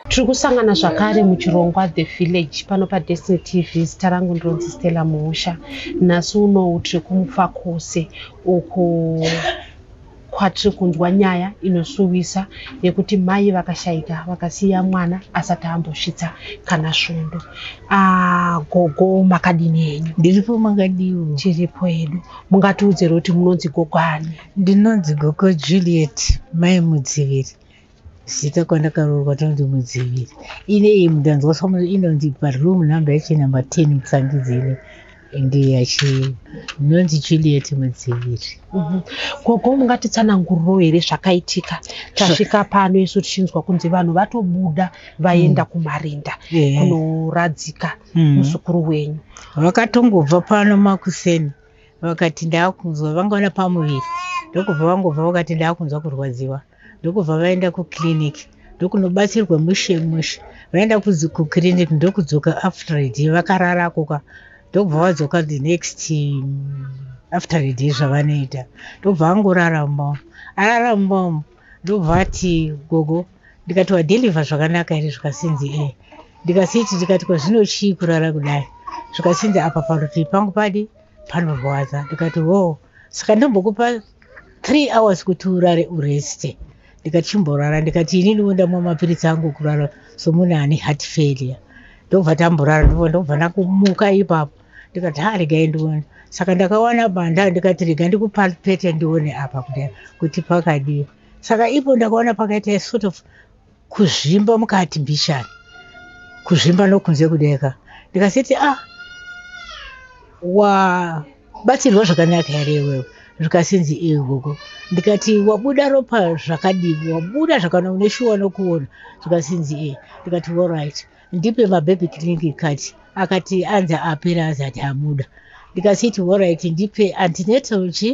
tiri kusangana zvakare muchirongwa the village pano padestiny tv zita rangu ndinonzi stella muhusha nhasi unowu tiri kumufakose uku kwatiri kunzwa nyaya inosuwisa yekuti mai vakashaika vakasiya mwana asati ambosvitsa kana svondo ah, gogo makadini henyu ndiripo makadiwo tiripo hedu mungatiudzero kuti munonzi gogo ani ndinonzi gogo juliet mai mudziviri Zita kwandakaroorwa tonzi Mudziviri. Ine iyi mudanzwa somo inonzi baroom number yacho number 10 mutsangizi ine ndiyo yachi inonzi Juliet Mudziviri. Mhm. Gogo mungatitsananguriro here zvakaitika tasvika pano isu tichinzwa kunzi vanhu vatobuda vaenda mm. kumarinda yeah. kunoradzika mm. muzukuru mm. wenyu. Vakatongobva pano makuseni vakati ndakunzwa vangaona pamuviri ndokubva vangobva vakati ndakunzwa kurwadziwa. ndokubva vaenda kuclinic ndokunobatsirwa mushe mushe vaenda kuclinic ndokudzoka after a day vakarara koka ndokubva vadzoka the next um, after a day zvavanoita ndokubva vangorara mumba arara mumba umu ndokubva ati gogo ndikatiwa deliva zvakanaka here zvikasinzi e ndikasiti ndikati kwazvino chii kurara kudai zvikasinzi apa parutivi pangu padi panorwadza ndikati wo saka ndombokupa three hours kuti urare ureste ndikati chimborara ndikati ini ndivo ndamwa mapiritsi angu kurara somunhu ane heart failure ndobva tamborara ndivo ndobva ndakumuka ipapo ndikati ha regai ndione saka ndakawana banda ndikati rega ndikupalpete ndione apa kudai kuti pakadii saka ipo ndakaona pakaita sort of kuzvimba mukati mbishani kuzvimba nokunze kudeka ndikasiti ah wabatsirwa zvakanaka here iwewe zvikasinzi ee gogo ndikati wabuda ropa zvakadii wabuda zvakana une shuwa nokuona zvikasinzi ee ndikati orit ndipe mababy clinic kati akati anzi apera anzi ati abuda ndikasiti orit ndipe antinetal chi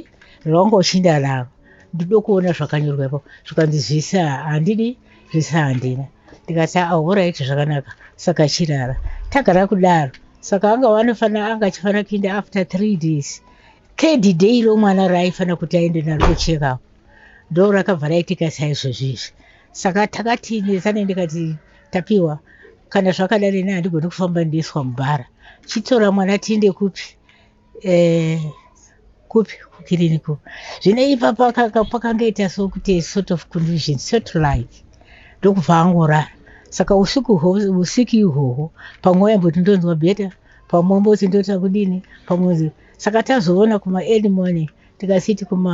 rwangu uchinda ravo ndoda kuona zvakanyorwa ipapo zvikanzi zvese handidi zvese handina ndikati ahoraiti zvakanaka saka chirara tagara kudaro saka anga wanofanira anga achifanira kuinda after three days third day iro mwana raaifanira kuti aende naro kuchekapo ndo rakabva raitika saizvozvi izvi saka takati nezane ndikati tapiwa kana zvakadari ne handigoni kufamba ndiiswa mubhara chitora mwana tiinde kupi Eh, kupi kukiriniki uku zvine ipa pakanga- pakangoita sokuti sort of confusion sort like ndokubva angorara saka usiku hwo- usiku ihwohwo pamwe waimboti ndonzwa bheta pamwe wamboti ndoita kudini pamwe wonzi- saka tazoona kuma early morning tikasiti kuma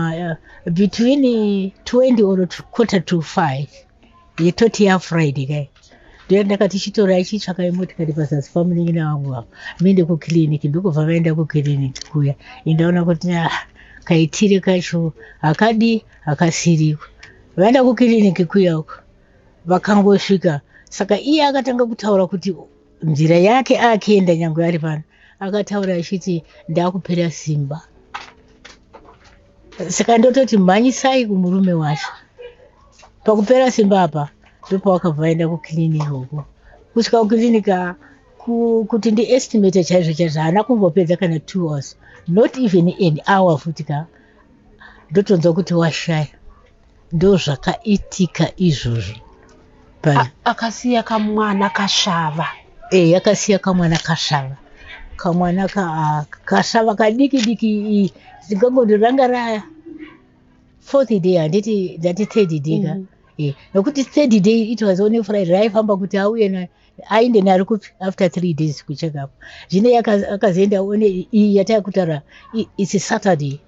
uh, between 20 or quarter to 5 yetoti yafriday kai ndiyo ndakati chitora ichitsvaka imotikari pazasi pamuningina vangu vavo minde kukiriniki ndokubva vaenda kukiriniki kuya indaona kuti ah, kaitire kacho hakadi hakasiriko vaenda kukiriniki kuya uko vakangosvika saka iye akatanga kutaura kuti nzira yake akienda nyange ari pano akataura achiti ndakupera simba saka ndototi mhanyisai kumurume wacho pakupera simba apa ndopawakabva vaenda kukiriniki uko kusvika kukiriniki kuti ndiestimate chaizvo chaizvo haana kumbopedza kana two hours not even an hour futi ka ndotonzwa kuti washaya ndozvakaitika izvozvo pa- akasiya kamwana kasvava eh, yakasiya kamwana kasvava kamwana ka, ah, kasvava kadiki diki i- ndingangoti ranga ra fourth day handiti ndati third day ka Mm. Eh, nokuti third day it was only friday raifamba kuti auye na- ainde nari kupi after three days kuchekapa zvino yaka- akazoenda one iyi yataakutaura i- it's saturday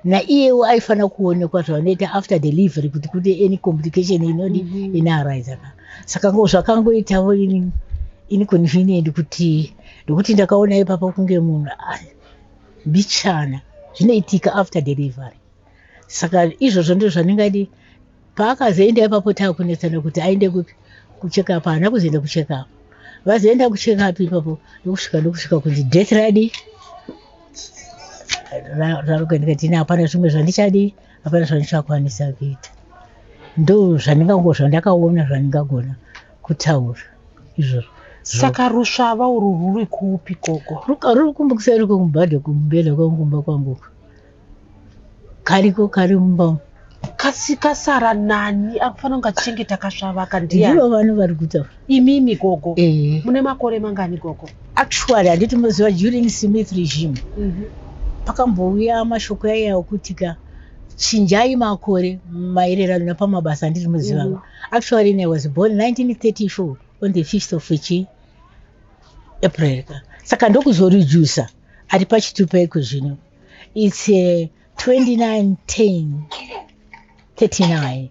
naiyewo aifanira kuonekwa zvavanoita after delivery kuti kune any complication inodi mm -hmm. inarise ka saka ngo zvakangoitavo ini inconvenient kuti ndokuti ndakaona ipapa kunge munhu ah, mbichana zvinoitika after delivery saka izvozvo ndizvo zvandingadi Paakazoenda ipapo takunetsana kuti aende kupi kuchekapu haana kuzoenda kuchekapu vazoenda kuchekapu ipapo ndokusvika ndokusvika kunzi death radi rarokandikatini hapana zvimwe zvandichadii hapana zvandichakwanisa kuita ndo zvandingango zvandakaona zvandingagona kutaura izvozvo saka rusvava urwu ruri kupi koko ruri kumbukisa ruri kumubhadha kumbela kwangu kumba kwangu kariko kari mumba umu. kasi kasara nani akufanira kunge achichengeta kasvava aka ndivo ndiani vano vari kutaura imimi gogo Eh. mune makore mangani gogo actually handiti muziva during smith regime Mhm. pakambouya mashoko yaiya okuti ka chinjai makore maererano napamabasa andiri muziva Mhm. actually i was born 1934 on the 5th of chi april ka saka ndokuzoreducer ari pachitupa iko zvino its uh, eh, 291039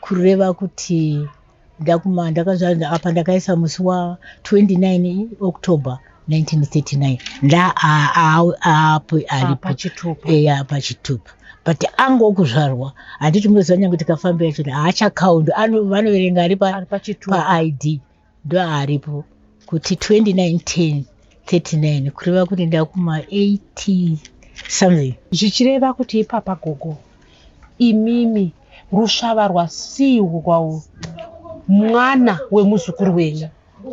kureva kuti ndakuma ndakazvaa apa ndakaisa musi wa 29 october 1939 ndaapo aripo pachitupa but ango okuzvarwa handiti munoziva nyange tikafambira choti haachakaundi vanoverenga ari paid pa ndoaripo kuti 2910 39 kureva kuti ndakuma 80 something zvichireva kuti ipapa gogo imimi rusvava rwasiiwo kwawo mwana wemuzukuru wenyu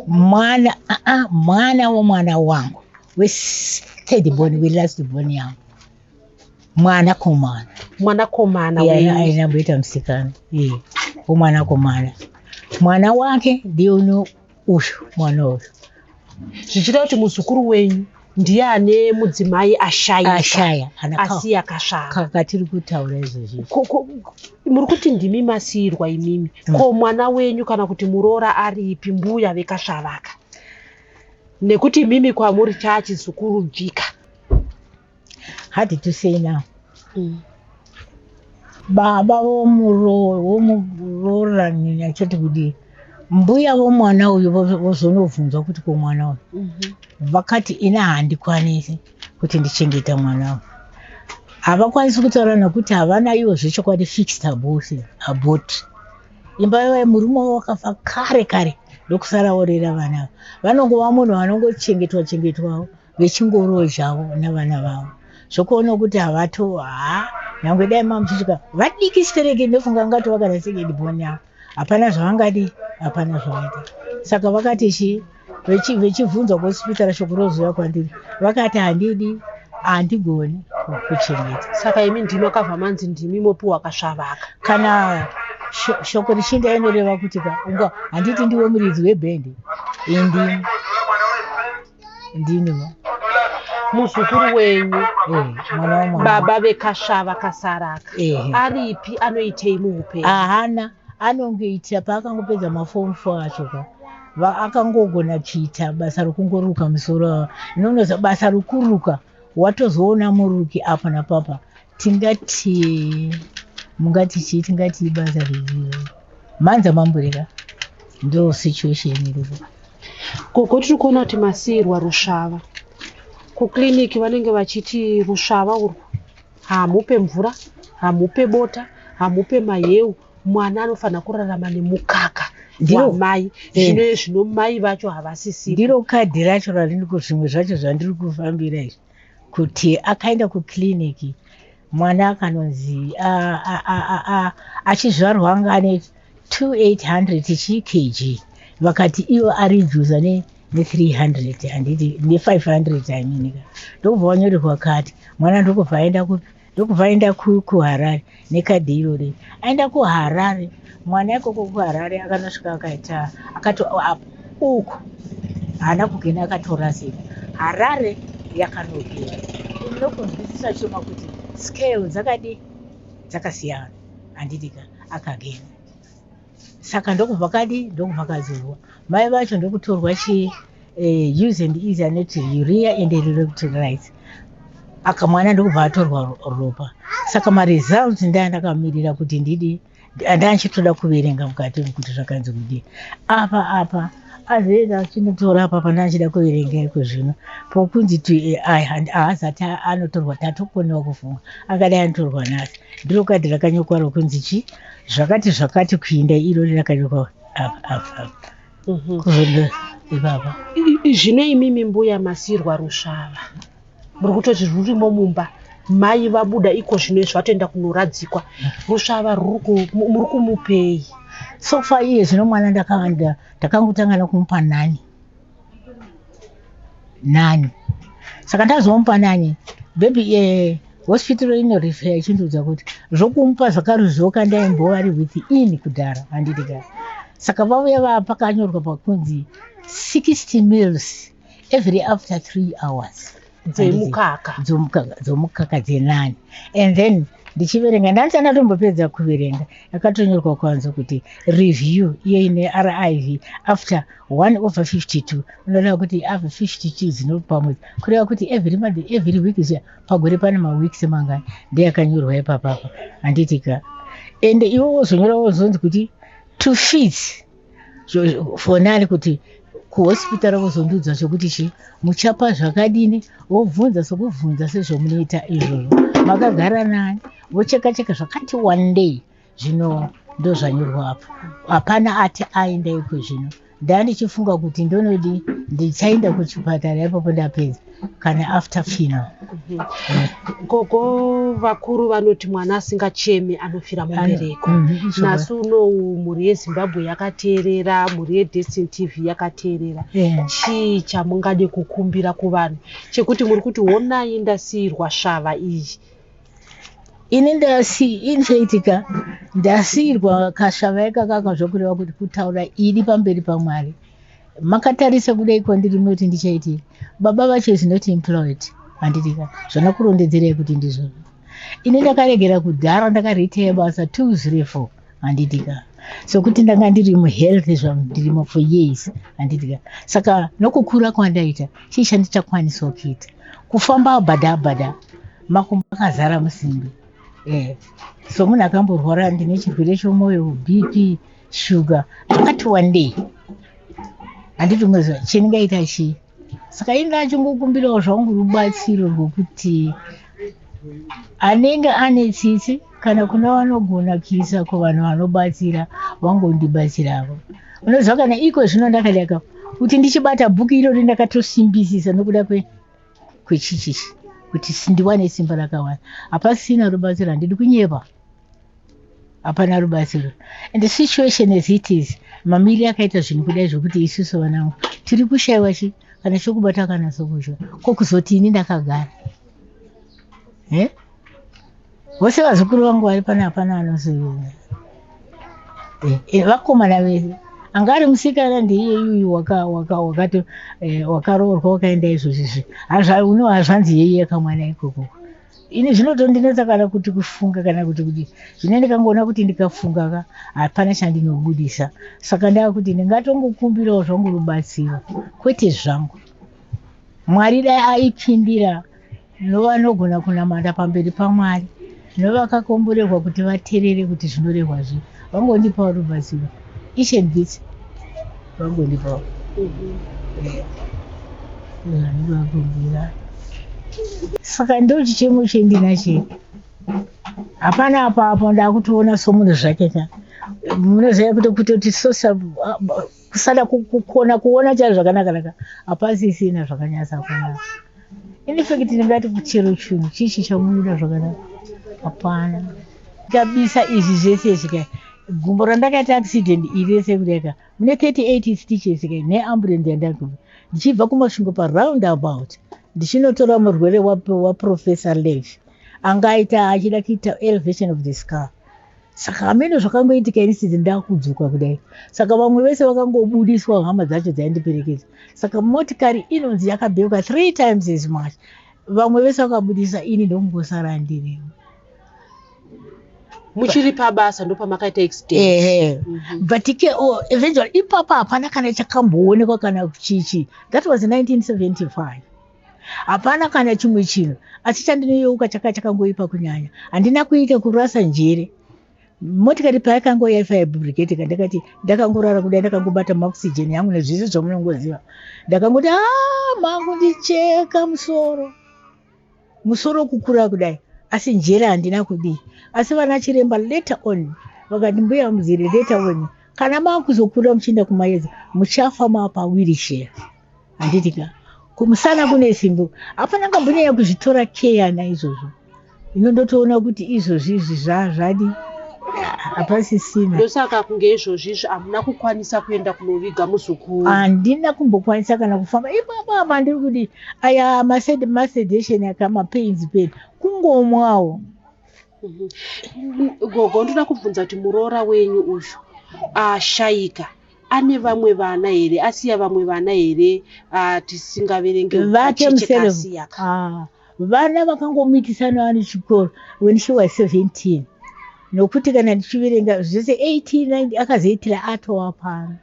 mwana aa mwana womwana wangu wethird born welast born yangu mwana komana mwana komana ainamboita musikana umwana komana mwana wake ndiye uno uyu mwana uyu zvichita kuti muzukuru wenyu ndiye ane mudzimai ashayashaya asi akasvakakatiri kutaura izvozvi muri kuti ndimi masiirwa imimi mm. ko mwana wenyu kana kuti muroora aripi mbuya vekasvavaka nekuti imimi kwamuri chaachizukuru bvika hard to say now mm. baba vomuroorani achati kudii mbuya vomwana uyu vozonobvunzwa kuti komwana uyu mhm. vakati ini handikwanisi kuti ndichengeta mwana uyu havakwanisi kutaura nokuti havana ivo zvechokwadi fixed abose abot imba yavaye murume wavo wakafa kare kare ndokusara orera vana ava vanongova munhu vanongochengetwa chengetwawo vechingoroyi zvavo navana vavo zvokuona kuti havato haa nyangwe dai mamuchisvika vadiki stereki ndofunga ngati vakada sekedi boni avo hapana zvavangadi hapana zvavaita saka vakati chii vechibvunzwa kwesipitara shoko roziva kwandiri vakati handidi handigoni kuchengeta saka imi ndimi akabva manzi ndimi mopiwa kasvavaka kana shoko richinda inoreva kuti ka unga handiti ndiwe muridzi webhendi indimi ndiniwo muzukuru wenyu eh, mwana wamwana baba vekasvava kasaraka Ehe. aripi anoitei muupenyu ahana anongoita paakangopedza mafomu fo acho ka Va- akangogona kuita basa rokungoruka musoro inonoza basa rokuruka watozoona muruki apa napapa tingati mungati chii tingati ibasa revio manza mambureka ndo situation iripo gogo tiri kuona kuti masiirwa rusvava kuclinic vanenge vachiti rusvava urwu hamupe mvura hamupe bota hamupe mahewu mwana anofanira kurarama nemukaka wamai eh. zvino zvino mai vacho havasisi ndiro kadhi racho randiri kuzvimwe zvacho zvandiri kufambira izvi kuti akaenda kukiriniki mwana akanonzi achizvarwa anga ane 2800 chikg vakati iwo ari juza ne ne500 i mean ndokubva wanyorerwa kati mwana ndokubva aenda kupi ndokubva aenda kuharare nekadhi irori aenda kuharare mwana ikoko kuharare akanosvika akaita akato uku haana kugena akatorasika harare yakanogera unokunzwisisa choma kuti scale dzakadi dzakasiyana handidika akagena saka ndokubva kadi ndokubva kadzurwa mai vacho ndokutorwa chi uh, use and easy anoti urea and electrolytes aka mwana ndokubva atorwa ropa saka maresults ndaa ndakamirira kuti ndidi ndaa ndichitoda kuverenga mukati kuti zvakanzi kudii apa apa azenge achinotora apa pane achida kuverenga iko zvino pokunzi to ai handi haazati anotorwa tatokonewa kufunga akadai anotorwa nhasi ndiro kadhi rakanyokwa rokunzi chi zvakati zvakati kuinda irori rakanyokwa apa apa apa mhm. kuzondo ipapa zvino imimi mbuya masirwa rusvava muri kutoti rurimo mumba mai vabuda iko zvino izvi vatoenda kunoradzikwa rusvava muri kumupei sofa iye zvino mwana ndakangotanga nekumupa nani nani saka ndazomupa nani bebi e eh, hospital inorefea ichindiudza kuti zvokumupa zvakaruzvoka ndaimbova ri with in kudhara handiti ka saka vauya vaa pakanyorwa pakunzi 60 mills every after three hours dzemukaka dzomukaka dzomukaka dzenani and then ndichiverenga ndanzi andatombopedza kuverenga akatonyorwa kwanza kuti review iyo ine riv after one over 52 unoreva kuti ave 52 dzinopamwedzi kureva kuti every month every week zviya pagore pane maweeks mangani ndeyakanyorwa ipapapa handitika ende iwe wozonyora wozonzi kuti to fees foni ari kuti kuhospitari vozondiudza chokuti chii muchapa zvakadini vobvunza sokubvunza sezvomunoita izvozvo makagara nani vocheka cheka zvakati wandei zvino ndozvanyorwa apo hapana ati aenda iko zvino ndaa ndichifunga kuti ndonodi ndichaenda kuchipatara ipapo ndapedza kana after fino gogo vakuru vanoti mwana asingacheme anofira mubereko nhasi unou mhuri yezimbabwe yakateerera mhuri yedestin tv yakateerera Yeah. chii chamungade kukumbira kuvanhu chekuti muri kuti honai ndasiirwa svava iyi ini ndasi ini zvaitika ndasiirwa kasvava ikakaka zvokureva kuti kutaura ini pamberi pamwari makatarisa kudai kwandiri munoti ndichaiti baba vacho is not employed handirika zvanakurondedzerai kuti ndizvo ini ndakaregera kudhara ndakareteya basa two zero four handitika sokuti ndanga ndiri muhealth zvangu ndirimo for years handitika saka nokukura kwandaita chii chandichakwanisawo kuita kufamba abhada abhada makumbo akazara musimbi eh, so munhu akamborwara ndine chirwere chomwoyo bp Sugar akati wandei handiti umwe zuva chendingaita chii saka inga achingokumbirawo zvangu rubatsiro rwokuti anenge ane tsitsi kana kuna vanogona kuisa kuvanhu vanobatsira vangondibatsiravo unoziva kana iko zvino ndakadaka kuti ndichibata bhuku irori ndakatosimbisisa nokuda kwechichichi kuti ndiwane simba rakawanda hapasina rubatsiro handidi kunyepa hapana rubatsiro and the situation as it is mamiri akaita zvinhu kudai zvokuti isusu vanangu tiri kushaiwa chi kana chokubata kana sokuzva ko kuzoti ini ndakagara eh? vose vazukuru vangu vari pana hapana vanozoiona eh, eh, vakomana vese anga ari musikana ndiiye yuyu wakato eh, wakaroorwa wakaenda izvozvizvi hazva uno hazvanzi yeiye kamwana ikokoko ini zvinotondinetsa kana kuti kufunga kana kuti kuti zvine ndikangoona kuti ndikafunga ka hapana chandinobudisa saka ndava kuti ndingatongokumbirawo zvangu rubatsiro kwete zvangu mwari dai aipindira novanogona kunamata pamberi pamwari novakakomborerwa kuti vaterere kuti zvinorehwa zvii vangondipawo rubatsiro each and this vangondipawo zvandivakumbira saka ndochichemo chendinache hapana apa apa ndakutoona somunhu zvake ka munoziva kuti kutoti sosa kusada kukona kuona chari zvakanakanaka hapasisina zvakanyasa kunaka infact ndingati kuchero chinhu chichi chamunoda zvakanaka hapana kabisa izvi zvese izvi kai gumbo randakaita accident iri rese kudaka mune 38 stitches kai neambulensi yandaku ndichibva kumasvingo paround about ndichinotora murwere waprofessor lev anga aita achida kuita elevation of the scar saka hameno zvakangoitika ini sisi ndakudzoka kudai saka vamwe vese vakangobudiswa hama dzacho dzaindiperekedza saka motikari inonzi yakabheuka three times as much vamwe vese vakabudisa ini ndokungosara ndiriwo muchiri pabasa ndopamakaita accident ehe mm -hmm. but ke oh, eventually ipapa hapana kana chakamboonekwa kana chichi that was 1975 hapana kana chimwe chinhu asi chandinoyeuka chakanga chakangoipa kunyanya handina kuita kurasa njere motikari payakanga yaifa yabrigate kandakati ndakangorara kudai ndakangobata maoxygen yangu nezvese zvamunongoziva ndakangoti a ah, mangu ndicheka musoro musoro kukura kudai asi njere handina kudii asi vana chiremba later on vakati mbuya muziri later on kana makuzokura muchienda kumayedza muchafa mapawiri shera handiti ka kumusana kune simbo hapana kambonyanya kuzvitora keya naizvozvo ino ndotoona kuti izvozvi izvi zvazvadi hapasisina ndosaka kunge izvozvi izvi hamuna kukwanisa kuenda kunoviga muzukuru handina kumbokwanisa kana kufamba ipapa apa ndiri kuti aya masedation aka mapains peni kungomwawo Mhm. gogo ndoda kubvunza kuti muroora wenyu uyu ashaika ane vamwe vana here asiya vamwe vana here tisingaverenge vake museveasiya ah, vana vakangomitisana vane chikoro when she was 17 nokuti kana ndichiverenga zvese 18 akazoitira atowa pano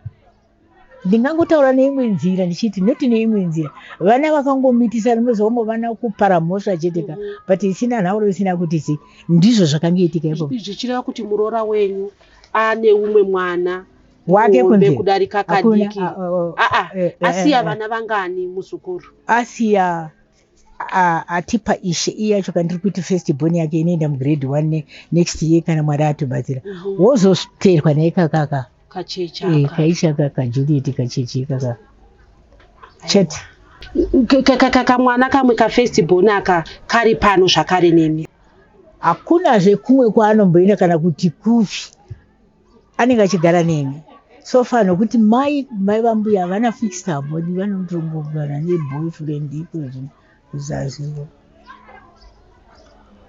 Ndingangotaura neimwe nzira ndichiti not neimwe nzira vana vakangomitisa ndimozoongo vana kupara mhosva chete ka mm-hmm. but isina nhauro isina kuti si ndizvo zvakange itika ipo zvichireva kuti muroora wenyu ane umwe mwana wake kunze kudarika kadiki aa ah, ah, ah, eh, eh, asiya vana vangani muzukuru asiya atipa ishe iye yacho kana tiri kuti first born yake inoenda mugrade one ne, next year kana mwari atobatsira mm -hmm. wozoteerwa naye kakaka eh, kaichaka kajuliet kacheche kaka chat kamwana kamwe kafirst born aka kari pano zvakare nemi hakunazve kumwe kwaanomboenda kana kuti kupi anenge achigara neni so far nokuti mai mai vambuya havana fixed abodi vanotongogara neboyfriend ikozvi kuzazivo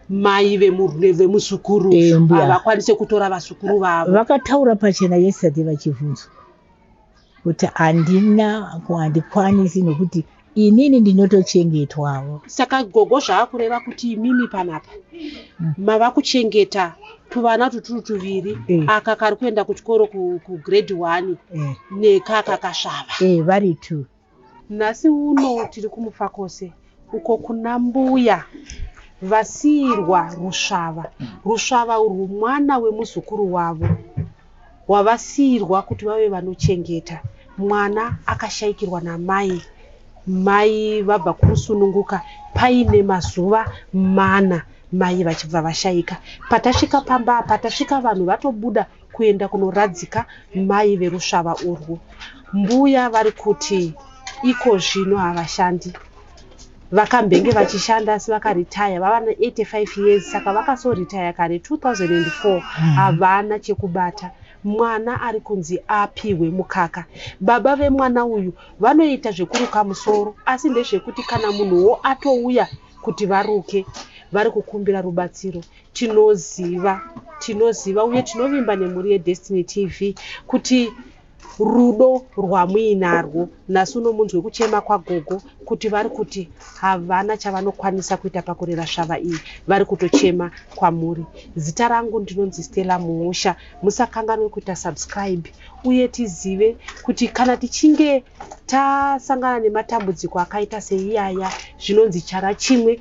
mai vemuzukuru eh, havakwanise kutora vazukuru vavo vakataura pachena yesterday vachivhunzwa kuti handina handikwanisi nokuti inini ndinotochengetwawo saka gogo zvaakureva kuti imimi panapa mm. mava kuchengeta tuvana tuturu tuviri eh. aka kari kuenda kuchikoro kugrade one eh. nekaka kasvava eh, vari two Nhasi uno tiri kuMufakose uko kuna mbuya vasiirwa rusvava. Rusvava urwu mwana wemuzukuru wavo wavasiirwa kuti vave vanochengeta. Mwana akashaikirwa namai mai vabva kurusununguka paine mazuva mana mai vachibva vashaika. Patasvika pamba apa tasvika vanhu vatobuda kuenda kunoradzika mai verusvava urwu. Mbuya vari kuti iko zvino havashandi vakambenge vachishanda asi vakaritaya vava ne85 years saka vakasoritaya kare 2004 hmm. havana chekubata mwana ari kunzi apihwe mukaka baba vemwana uyu vanoita zvekuruka musoro asi ndezvekuti kana munhuwo atouya kuti varuke vari kukumbira rubatsiro Tinoziva, tinoziva uye tinovimba nemhuri yeDestiny TV kuti rudo rwamuinarwo nhasi uno munzwe kuchema kwagogo kuti vari kuti havana chavanokwanisa kuita pakurera svava iyi vari kutochema kwamuri zita rangu ndinonzi stella muhusha musakanganwe kuita subscribe uye tizive kuti kana tichinge tasangana nematambudziko akaita seiyaya zvinonzi chara chimwe